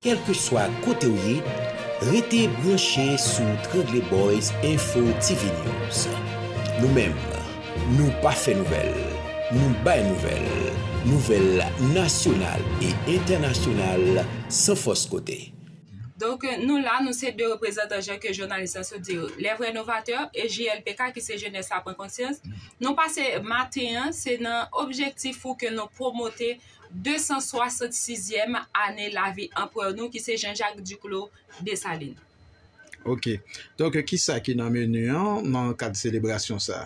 Kèlkeswa kote w ye, rete branche sou Trangleboyz Info TV News. Nou menm, nou pa fè nouvèl, nou bay nouvèl, nouvèl nasyonal e entènasyonal san fòs kote. Donk nou la, nou se 2 reprezantan jan ke jounalis la sot di yo, les vrais novateurs e JLPK ki se jenès la pran konsyans. Nou pase maten an, se nan objektif pou ke nou pwomote 266 zyèm ane lavi anprè nou ki se Jean Jacques Duclos Dessalines. Ok. Donk ki sa ki nan menu an nan kad selebrasyon sa?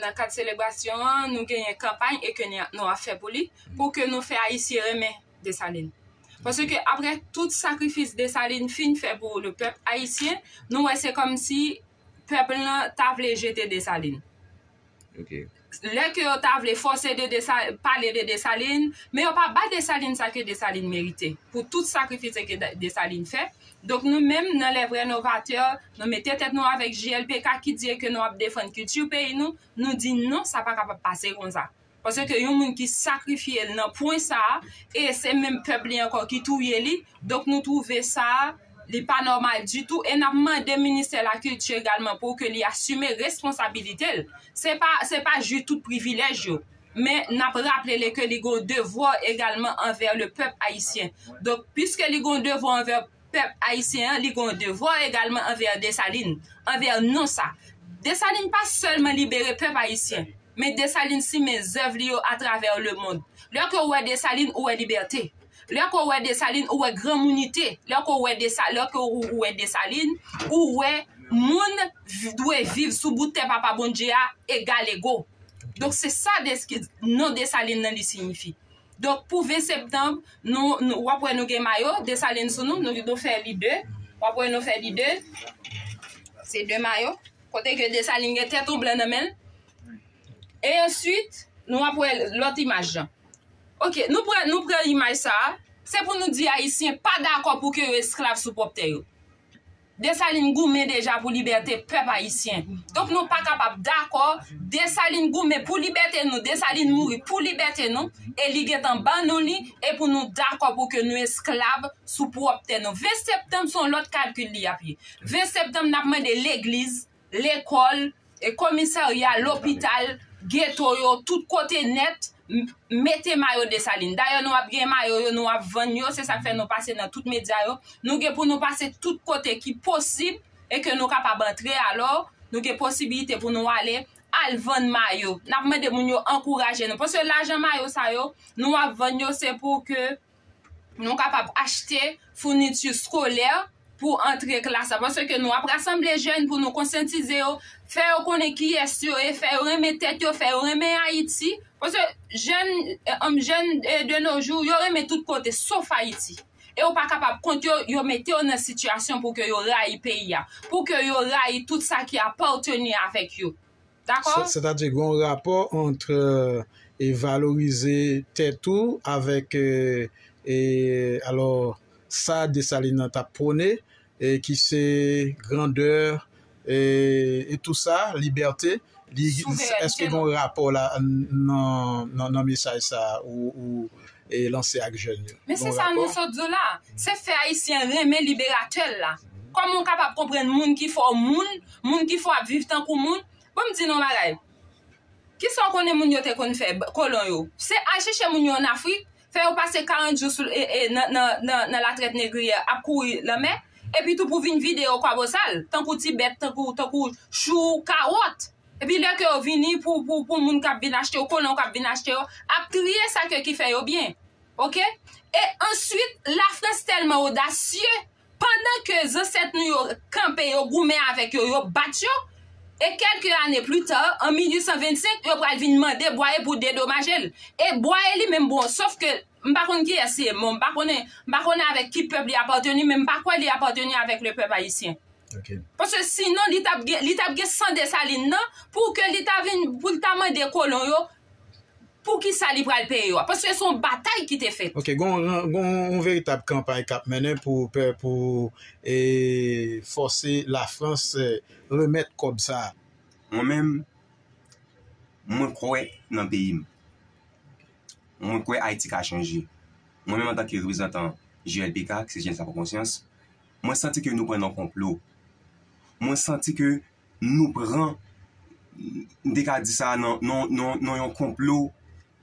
Nan kad selebrasyon an nou genyen kanpay e ke nou ap fè pou li pou ke nou fè Ayisyen renmen Dessalines. Pase ke apre tout sakrifis Dessalines fin fè pou le pèp Ayisyen, nou wè se kòm si pèp lan ta vle jete Dessalines. Ok. lè ke yo ta vle fòse de Dessalines, pale de Dessalines, men yo pa ba Dessalines sa ke Dessalines merite, pou tout sakrifise ke Dessalines fè, donk nou menm nan les vrais novateurs, nou mete tèt nou avèk JLPK ki di e ke nou ap defann kilti peyi nou, nou di non sa pa kapab pase konsa, pase ke yon moun ki sakrifye l nan pwen sa, e se menm pèp li ankò ki touye li, donk nou twouve sa. Li pa nòmal ditou e n ap mande Ministè Lakilti egalman pou ke li asime responsabilite l. Se pa se pa jwi tout privilèj yo, men n ap raple li ke li gen yon devwa egalman anvè le pèp ayisyen. Donk, piske li gen yon devwa anvè pèp ayisyen an, li gen yon devwa egalman anvè Desalin, anvè nou sa. Desalin pa sèlman libere pèp ayisyen, men Desalin simen zèv li yo atravè lemond. Lè ke ou wè Desalin, ou wè libète. Lè ke w wè Desalin, ou wè granmounite. Lè ke w wè Desa, lè ke ou ou wè Desalin, ou wè moun vi, dwe viv sou bout tè Papa Bondye a egal ego. Donk se sa desk, non Desalin nan li siyifi. Donk pou 20 septanb, nou, nou, w ap wè nou gen mayo Desalin sou nou, nou, nou fè li 2. W ap wè nou fè li 2. Se 2 mayo. Kote ke Desalin gen tèt on blan nan men l. E answit, nou ap wè lòt imaj lan. Ok, nou pran, nou pran imaj sa a. Se pou nou di Ayisyen pa dakò pou ke yo esklav sou pwòp tè yo. Desalin goumen deja pou libète pèp Ayisyen. Donk nou pa kapab dakò, Desalin goumen pou libète nou, Desalin mouri pou libète nou, e li gen tan ban nou li, e pou nou dakò pou ke nou esklav sou pwòp tè nou. 20 septanm se yon lòt kalkil li ap ye. 20 septanm n ap mande legliz, lekòl, komisarya, lopital, geto yo, tout kote nèt, mete mayo Desalin. Dayè nou ap gen mayo yo, nou ap vann yo, se sa k fè nou pase nan tout medya yo. Nou gen pou nou pase tout kote ki posib e ke nou kapab antre alò, nou gen posibilite pou nou ale, al vann mayo. N ap mande moun yo ankouraje nou. Paske lajan mayo sa yo, nou ap vann yo se pou ke Nou kapab achte founiti skolè pou antre klas la paske nou ap rasanble jèn pou nou konsyantize yo, fè yo konnen kiyès yo ye, fè yo renmen tèt yo, fè yo renmen Ayiti. Paske jèn, jèn de no jou, yo renmen tout kote sof Ayiti. E ou pa kapab kont yo, yo mete yo nan sitiyasyon pou ke yo rayi peyi a, pou ke yo rayi tout sa ki apateni avèk yo. Dakò? Sètadi gen yon rapò ant e valorize tèt ou avèk e alò sa Desalin nan t ap pwone e ki se grandè e tou sa, libète. Souvènète. Èske gen yon rapò la nan mesaj sa ou lanse ak jèn yo. Men se sa nou sot di w la, se fè Ayisyen renmen liberatè l la. Kòman w kapab konprann moun ki fè w moun, moun ki fè w ap viv tankou moun? Bon m di nou yon bagay, ki sa w konnen moun yo te konn fè, kolon yo? Se al chèche moun yo ann Afrik, fè yo pase 40 jou sou nan latrèt negriyè, ap kouri lanmè, epitou pou vin vide yo kwabosal, tankou ti bèt, tankou chou, kawòt. Epi lè ke yo vini pou pou pou moun kap vin achte yo, kolon yo kap vin achte yo, ap triye sa ke ki fè yo byen. Ok? E answit Lafrans tèlman odasye, pandan ke zansèt nou yo kanpe yo goumen avèk yo, yo bat yo, e kèlke ane pli ta, an 1825, yo pral vin mande Bwaye pou dedomaje l. E Bwaye li menm bon, sof ke m pa konn kiyès li ye, bon m pa konnen, m pa konnen avèk ki pèp li apateni, men m pa kwè li apateni avèk le pèp ayisyen. Ok. Paske sinon li tap gen li tap gen san Dessalines nan pou ke li ta vin pou l ta mande kolon yo pou ki sa li pral peye yo a. Paske se yon batay ki te fèt. Ok, gon gon yon veritab kanpay kap mennen pou pe pou e fòse Lafrans remèt kòb sa a. Mwen menm, mwen kwè nan peyi m. Mwen kwè Ayiti ka chanje. Mwen menm antanke reprezantan JLPK, ki se Jenès Laprankonsyans, Mwen santi ke nou pran nan konplo. Mwen santi ke nou pran, m te ka di sa nan yon konplo,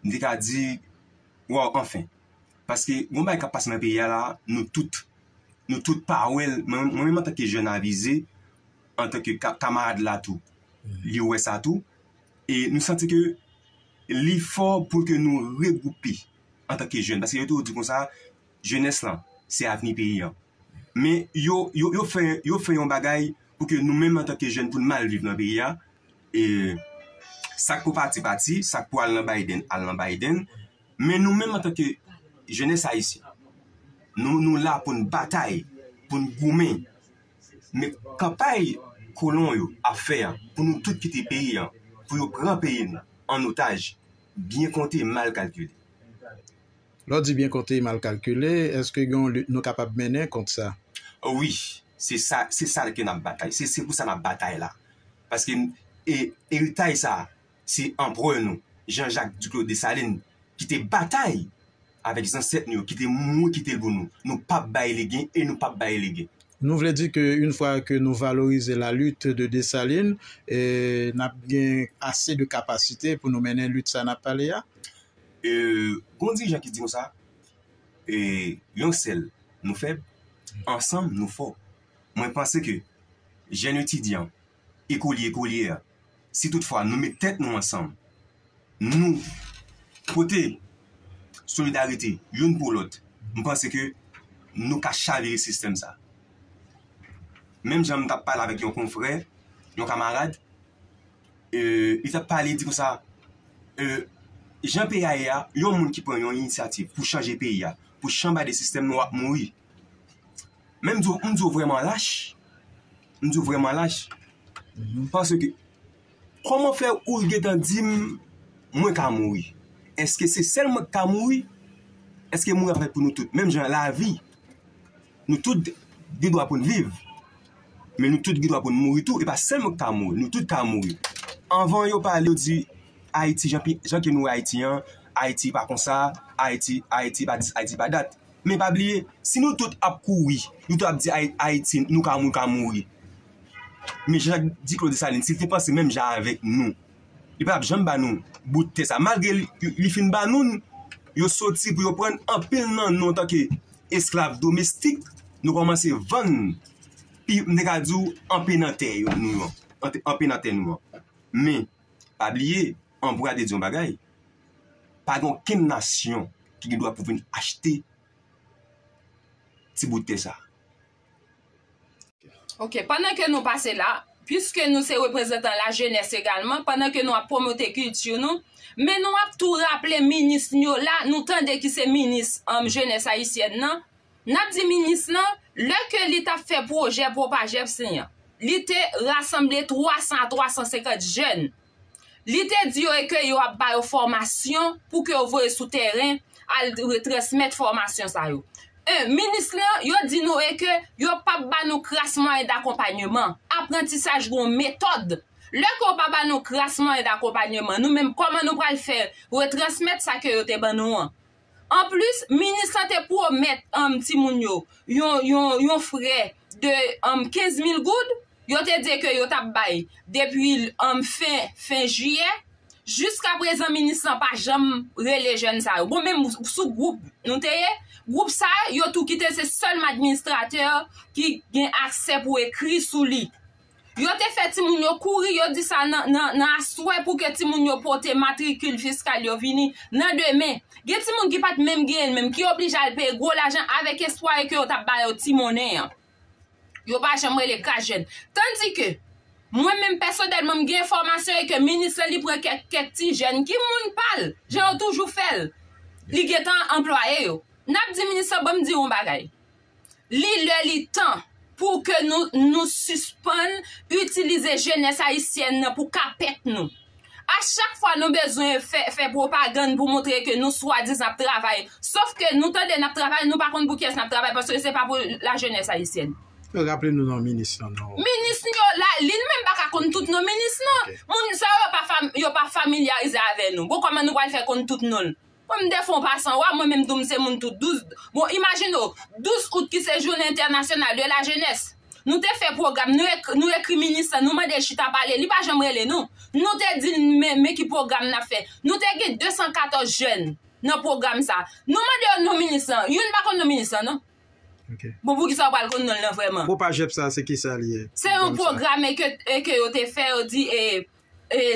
m te ka di, waw, anfen. Paske, yon bagay kap pase nan peyi a la, nou tout, nou tout pa wè l, mwen menm antake jèn avize, antake kamarad la tou, li wè sa tou, e nou santi ke li fò pou ke nou regroupe, antake jèn, paske yo toujou di konsa, Jenès lan, se avni peyi an. Men yo, yo, yo fè, yo fè yon bagay pou ke nou menm antanke jèn pou n mal viv nan peyi a. E sa k pou pati pati, sa k pou al nan Biden al nan Biden. Men nou menm antanke jenès ayisyen, nou, nou la pou n batay, pou n goumen. Men kanpay kolon yo ap fè a pou nou tout kite peyi an, pou yo pran peyi nou an otaj, byen konte, mal kalkile. Lè w di byen konte mal kalkile, èske gen yon lit nou kapab mennen kont sa? Wi, se sa, se sa l ke n ap batay, se, se pou sa n ap batay la. Paske n, e, eritay sa a, se Anprè nou, Jean Jacques Duclos Dessalines, ki te batay avèk zansèt nou yo, ki te mouri kite l pou nou. Nou p ap bay legen e nou p ap bay legen. Nou vle di ke une fwa ke nou valorize la lutte de Dessalines, e, n ap gen ase de kapasite pou nou mennen lit sa a n ap pale a? Gon dirijan ki di konsa, Yon sèl nou fèb, ansanm nou fò. Mwen panse ke jèn etidyan, ekolye, ekolyè, si tout fwa nou met tèt nou ansanm, nou pote solidarite youn pou lòt, mwen panse ke nou ka chavire sistèm sa. Menm jan mwen tap pale avèk yon konfrè, yon kamarad, li tap pale di konsa jan peyi a ye a yon moun ki pran yon inisyativ pou chanje peyi a pou chanbade sistèm nou ap mouri men m di w m di w vreman lach m di w vreman lach panse ke koman fè ou l gentan di m mwen ka mouri eske se sèl mwen k ka mouri eske mouri ap fèt pou nou tout menm jan lavi Nou tout gen dwa pou n viv, men nou tout gen dwa pou n mouri tou. E pa sèl mwen ki ka mouri, nou tout ka mouri. Anvan yo pale yo di Ayiti jan ke nou wè Ayiti an, Ayiti pa konsa, Ayiti, Ayiti pa dis, Ayiti pa dat. Men pa bliye, si nou tout ap kouri, nou tout ap di Ayiti nou ka mouri, nou ka mouri. Men Jean-Jacques Duclos Dessalines, si l te panse menm jan avèk nou, Li pap janm ba nou bout tè sa. Malgre li fin ba nou l, yo soti pou yo pran anpil nan nou antanke esklav domestik, nou kòmanse vann pi, m te ka di w, anpe nan tè nou an, anpe nan tè nou an. Men, pa bliye, Ambroise te di yon bagay, pa gen okenn nasyon ki gen dwa pou vin achte ti bout tè sa. Ok, pandan ke nou pase la, pwiske nou se reprezantan la jenès egalman, pandan ke nou ap pwomote kilti nou, men nou ap tou raple minis nou yo la, nou tande ki se minis jenès ayisyèn nan, n ap di minis lan, lè ke li t ap fè pwojè Propajeps li an, li te rasanble 300 a 350 jèn, Li te di yo e ke yo ap ba yo fòmasyon pou ke yo voye sou tèren al retransmèt fòmasyon sa yo. 1, Minis lan, yo di nou e ke yo p ap ba nou kras mwayen dakonpanyeman. Aprantisaj gen yon metòd. Lè ke yo pa ba nou kras mwayen dakonpanyeman, nou menm kòman nou pral fè retransmèt sa ke yo te ban nou an? Anplis, minis lan te pwomèt timoun yo yon frè de 15 mil goud, yo te di ke yo t ap bay depi fen jiyè. Jiska prezan minis lan pa janm rele jèn sa yo. Bon menm sou gwoup nou te ye, gwoup sa yo tou kite se sèlman administratè ki gen aksè pou ekri sou li. Yo te fè timoun yo kouri, yo di sa nan aswè pou ke timoun yo pote matrikil fiskal yo vini nan demen. Gen timoun ki pa t menm genyen l menm, ki oblije al peye gwo lajan avèk espwa ke yo t ap ba yo ti monnen an. Yo pa janm rele kas jèn. Tandi ke, mwen menm pèsonèlman m gen enfòmasyon e ke minis lan li pran kèk ti jèn ki moun pa l, jan yo toujou fè l, li gen tan anplwaye yo. N ap di minis lan, ban m di w yon bagay. Li lè li tan pou ke nou nou sispann itilize jenès ayisyèn nan pou kapèt nou. A chak fwa nou bezwen fè fè pwopagann pou montre ke nou swadizan ap travay, sof ke nou tande nap travay nou pa konn pou kiyès nap travay paske se pa pou lajenès ayisyèn. Raple nou non minis lan non. Minis nou yo la, li menm pa ka konn tout non minis nan. Moun sa yo yo pa familyarize avè nou. Bon kòman nou pral fè konn tout non l. Kòm defo w pa san wa, mwen menm tou m se moun tout douz, bon imajine w, douz out ki se jounen entènasyonal de la jenès, nou te fè pwogram, nou ekri minis lan, nou mande l chita pale, li pa janm rele nou, nou te di l men ki pwogram n ap fè, nou te gen 214 jèn nan pwogram sa, nou mande yo non minis lan, youn pa konn non minis lan non. Bon pou ki sa w pral konn non l lan vrèman? Propajep sa se ki sa li ye? Se yon pwograme ke yo te fè, yo di e.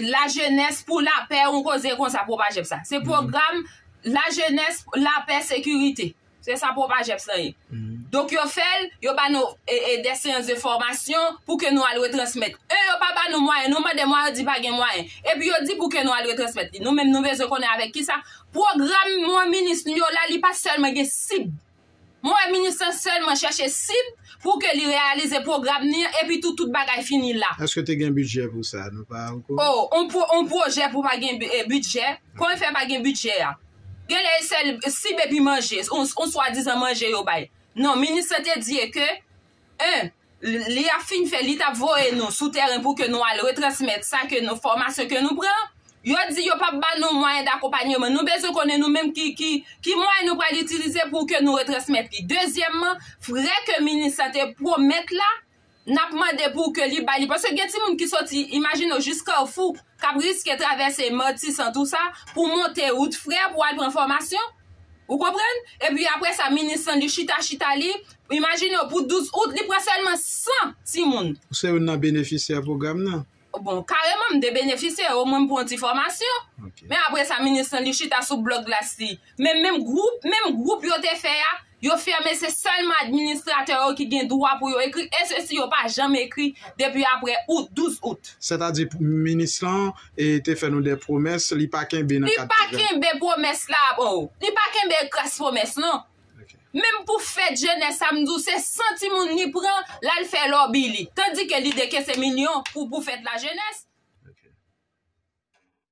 La Jeunesse pour la Paix yon koze konsa Propajeps la. Se pwogram La Jeunesse, la Paix, Sécurité. Se sa Propajeps lan ye. Donk yo fè l, yo ba nou des séances de formation pou ke nou al retransmèt. E yo pa ba nou mwayen. Nou mande mwayen, yo di pa gen mwayen. Epi yo di pou ke nou al retransmèt li. Nou menm nou bezwen konnen avèk kisa. Pwogram mwen minis nou yo la, li pa sèlman gen sib. Mwen wè minis lan sèlman chèche sib pou ke li reyalize pwogram ni an epitou tout bagay fini la. Eske te gen bidjè pou sa? Nou pa okouran? O, on pwo, on pwojè pou pa gen e, bidjè? Kòman fè pa gen bidjè a? Gen lè e sèl sib epi manje, on, on swadizan manje yo bay. Non, minis lan te di e ke. 1, Li ap fin fè, li tap voye nou sou tèren pou ke nou al retransmèt sa ke nou, fòmasyon ke nou pran. Yo di yo pap ba nou mwayen dakonpanyeman. Nou bezwen konnen nou menm ki, ki, ki mwayen nou pral itilize pou ke nou retransmèt li. Dezyèmman, frè ke minis la te pwomèt la, nap mande pou ke li ba li. Paske gen timoun ki soti, imajine w, jis Kafou, kap riske travèse Matisan, tou sa, pou monte wout frè, pou al pran fòmasyon. Ou konprann? Epi apre sa, minis lan li chita chita li, imajine w pou 12 out, li pran sèlman 100 timoun. Ou se youn nan benefisyè pwogram nan? Bon, kareman m te benefisyè, omwen m pran yon ti fòmasyon. Men apre sa, minis lan li chita sou blòk glas li. Men menm gwoup, menm gwoup yo te fè a, Yo fèmen se sèlman administratè yo ki gen dwa pou yo ekri e sesi yo pa janm ekri depi apre out, 12 out. Sètadi minis lan te fè nou dè pwomès li pa kenbe nan kad pwogram. Li pa kenbe pwomès la oo. Li pa kenbe ekras pwomès non. Menm pou fèt jenès sa m di w se 100 timoun li pran l al fè lòbi li. Tandike li dekese milyon pou fèt lajenès.